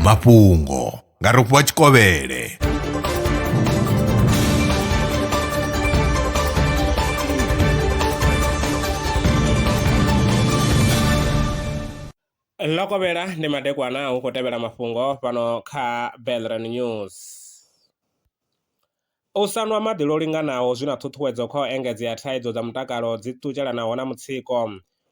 mafhungo nga rofhiwa tshikovhele ḽo kovhela ndi madekwana hu khou tevhela mafhungo fhano kha belran news U sa nwa maḓi lwo linganaho zwi na ṱhuṱhuwedzo kha u engedzea thaidzo dza mutakalo dzi ṱutshelanaho na mutsiko.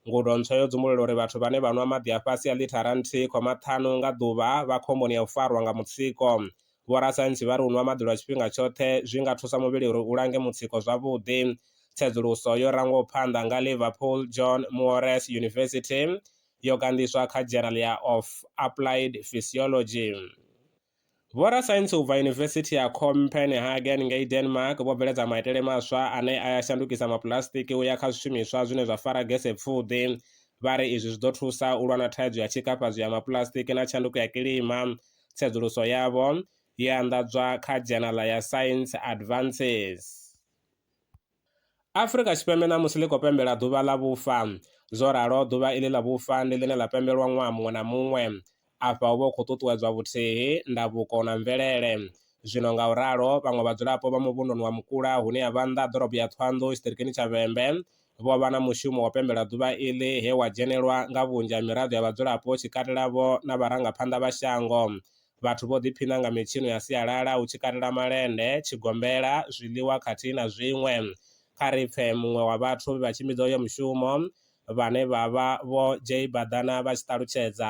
Ngudo ntswa yo dzumbulula uri vhathu vhane vha nwa maḓi a fhasi ha ḽithara nthihi khoma ṱhanu nga ḓuvha vha khomboni ya u farwa nga mutsiko. Vhorasaintsi vha ri u nwa maḓi lwa tshifhinga tshoṱhe zwi nga thusa muvhili uri u lange mutsiko zwavhuḓi. Tsedzuluso yo rangwaho phanḓa nga Liverpool John Moores University yo ganḓiswa kha Journal ya of Applied Physiology. Vhorasaintsi u bva Yunivesithi ya Copenhagen ngei Denmark vho bveledza maitele maswa ane a ya shandukisa mapuḽasitiki u ya kha zwishumiswa zwine zwa fara gese pfuḓi. Vha ri izwi zwi ḓo thusa u lwa na thaidzo ya tshikafhadzwi ya mapuḽasitiki na tshanduko ya kilima. Tsedzuluso yavho yo anḓadzwa kha dzhenala ya Science Advances. Afrika Tshipembe ṋamusi ḽi khou pembela ḓuvha ḽa vhufa. Zwo ralo, ḓuvha iḽi ḽa vhufa ndi ḽine ḽa pembelwa ṅwaha muṅwe na muṅwe. Afha hu vha hu khou ṱuṱuwedzwa vhuthihi, ndavhuko na mvelele. Zwino nga u ralo, vhaṅwe vhadzulapo vha muvhunduni wa Mukula hune ha vha nnḓa ha ḓorobo ya Thohoyandou tshiṱirikini tsha Vhembe vho vha na mushumo wa u pembela ḓuvha iḽi he wa dzhenelwa nga vhunzhi ha miraḓo ya vhadzulapo tshi katela-vho na vharangaphanḓa vha shango Vhathu vho ḓiphina nga mitshino ya sialala hu tshi katela malende, tshigombela, zwiḽiwa khathihi na zwiṅwe. Kha ri pfe muṅwe wa vhathu vhe vha tshimbidza uyo mushumo vhane vha vha Vho Jay Badana vha tshi ṱalutshedza.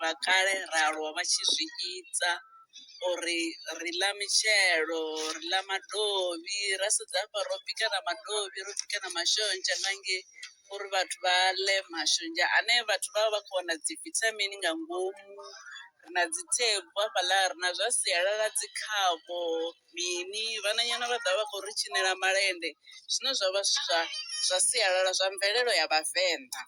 vha kale ra aluwa vha tshi zwi ita uri ri ḽa mitshelo ri ḽa madovhi ra sedza hafha ro bika na madovhi ro bika na mashonzha nga ngei uri vhathu vha ḽe mashonzha ane vhathu vha vha vha kho wana dzi vithamini nga ngomu ri na dzi thebvu hafhaḽa ri na zwa sialala dzi khavho mini vhananyana vha ḓa vha khou ri tshinela malende zwine zwavha zwithu zwa zwa sialala zwa mvelelo ya vhavenḓa.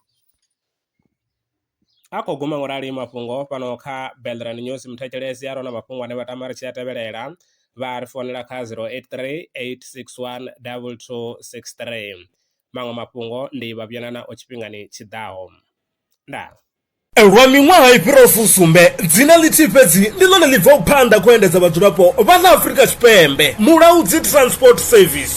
a khou guma ngo rali mafhungo fhano kha Belrand News muthetshelesi a rona mafhungo ane vha tama ri tshi a tevhelela vha ri founela kha 0838612263 maṅwe mafhungo ndi vha vhuyana nao tshifhingani tshi ḓaho ndaa. Lwa miṅwaha i fhiraho fusumbe, dzina ḽithihi fhedzi ndi ḽone ḽi bvaho phanḓa kha u endedza vhadzulapo vha ḽa Afrika Tshipembe, Mulaudzi Transport Service.